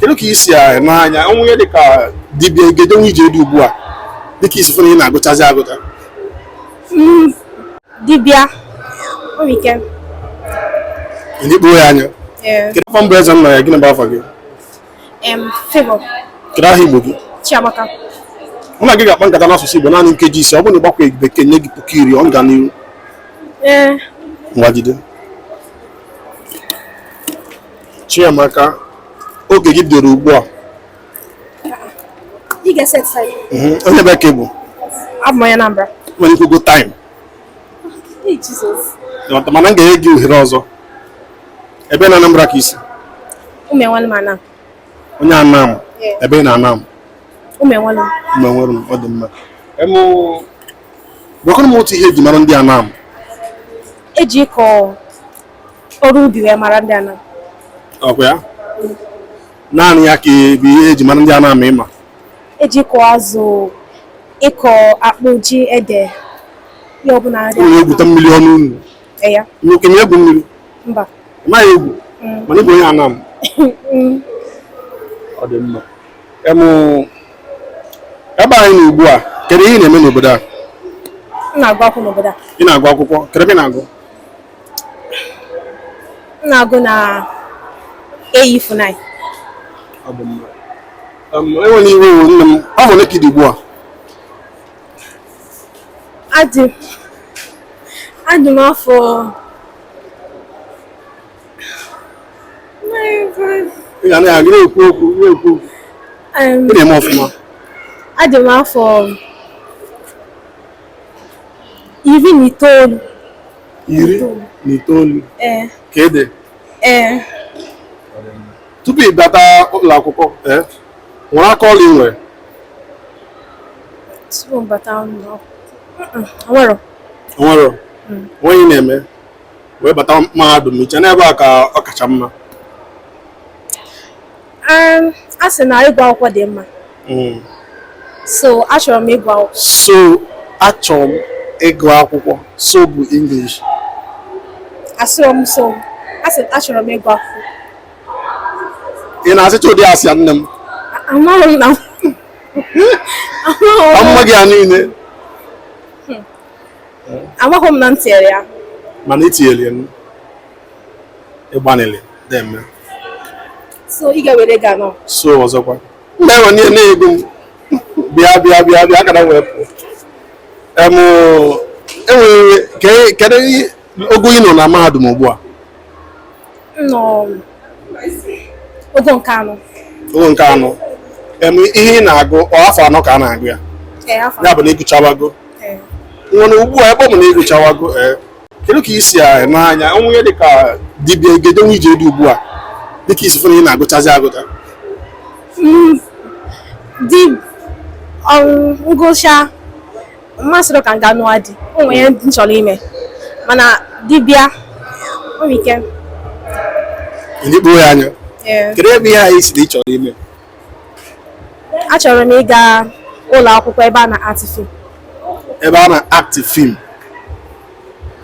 kedu ka isi a n'anya ọnwụ ya dịka dibịa egedenwu ije dị ugbu a dịka i si fụ na ị na-agụchazi agụcha dibịa nwere ike ị na-ekporo ya anya ee kedu afa m bụ Ezennaya gịnị bụ afa gị em Favour kedu aha igbo gị chiamaka mụ na gị ga-akpa nkata n'asụsụ igbo naanị nkeji ise ọ bụrụ na ị gbakwa bekee nye gị puku iri ọ ga n'ihu ee ngwa jide Chiamaka oge gị bidoro ugbu a ị ga-eset saịdị Mhm. onye ebee ka ị bụ abụ m onye Anambra nwere ike go time Ee, Jesus. Ịghọta, mana m ga-enye gị ohere ọzọ ebee na Anambra ka i si Ụmụenwelum Anam onye Anam Yeah. ebee na Anam Ụmụenwelum Ụmụenwelum ọ dị mma Em, gwakwanụ m otu ihe eji mara ndị Anam eji ịkọ ọrụ ubi wee mara ndị Anam ọkwa ya naanị ya ka bụ ihe eji mara ndị Anam ịma eji ịkọ azụ ịkọ akpụ ji ede ihe ọbụla ndị unu egwuta mmiri ọnụ unu ya nwoke na-egwu mmiri mba ị maghị egwu mana ị bụ onye Anam ọ dị mma Em, ebe anyị nọ ugbu a kedu ihe ị na-eme n'obodo a m na-agụ akwụkwọ n'obodo a ị na-agụ akwụkwọ kedu ebe ị na-agụ m na-agụ na AE-FUNAI ewene iwe o nne m afọ ole ka ị dị ugbu a adị adị m afọ ị ga na-aga na-ekwu okwu na-ekwu okwu em, ị na-eme ọfụma adị m afọ iri na itoolu iri na itoolu ee ka ede ee tupu ị bata ụlọ akwụkwọ ee nwere aka ọlụ ị nwere tupu m bata ụlọ nwere o nwere ihe ị na-eme wee bata mahadum i che na ebe a ka ọ kacha mma Um, a sị na ịgụ akwụkwọ dị mma Mm. so achọrọ m ịgụ akwụkwọ so achọrọ m ịgụ akwụkwọ so bụ English asịrọ m so a sị achọrọ m ịgụ akwụkwọ ị na-asịcha ụdị asị a nne m amaghị m na amaghị ịma mma gị a niile amaghị m na m tinyere ya mana i tinyere ya nụ. ịgbanịlị na-eme so ị ga-ewere ga nọ so ọzọkwa mgbe enwe n'ihe na-ego m bịa bịa bịa bịa akara wee pụọ em enwere ke- kedu ihe- ogo ị nọ na mahadum ugbu a nọ ogo nke anọ ogo nke anọ em ihe ị na-agụ ọ afọ anọ ka a na-agụ ya ee afọ ya bụ na ị gụchawago ee. ngwanụ ugbu a ebe ọ bụ na ị gụchawago ee kedu ka i si n'anya onwunye dịka di bịa ị ga-edinwu ije di ugbu a dịka i si fụ na ị na-agụchazi agụcha di m gụchaa mmasịrị ka m ga nụọ di o nwere ihe m chọrọ ime mana di bịa o nwere ike ndị kpoo ya anya ee kedu em ihe ahụ ị sịrị ị chọrọ ime achọrọ m ịga ụlọ akwụkwọ ebe a na act film ebe a na act film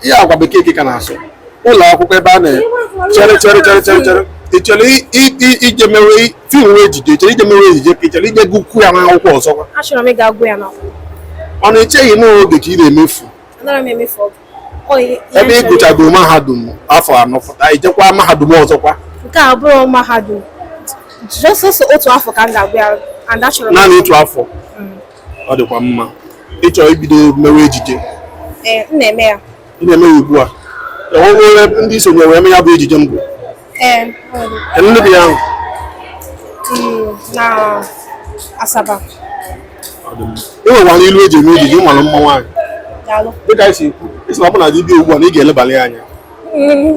ihe a ọkwa bekee ka ị na-asụ ụlọ akwụkwọ ebe a na chere chere chere chere chere ị chọrọ i- i- i- ije mewe film wee ejije ị chọrọ ije mewe ejije ka ị chọrọ ije gụkwu ya n'akwụkwọ ọzọkwa achọrọ m ịga gụọ ya n'akwụkwọ ọ na i cheghị na oge ka ị na-emefu anaghị m emefu oge ebe ị gụchago mahadum afọ anọ pụta i jekwa mahadum ọzọkwa nke a abụrọ mahadum just sọsọ otu afọ ka m ga-agụ ya naanị otu afọ mm. ọ dịkwa mma ị chọrọ ibido mewe ejije eh, m na-eme ya ị na-eme ya ugbu a enwere ndị i sonye wee mee ya bụ ejije mbụ Ee, enwere m. ahụ? Mm, na Asaba. Ị nwekwara ilu e ji eme ejije ị mara mma nwaanyị. Daalụ. Dịka i si, ị sị na ọ bụ na di bịa ugbu a na ị ga-elebali anya. Mm.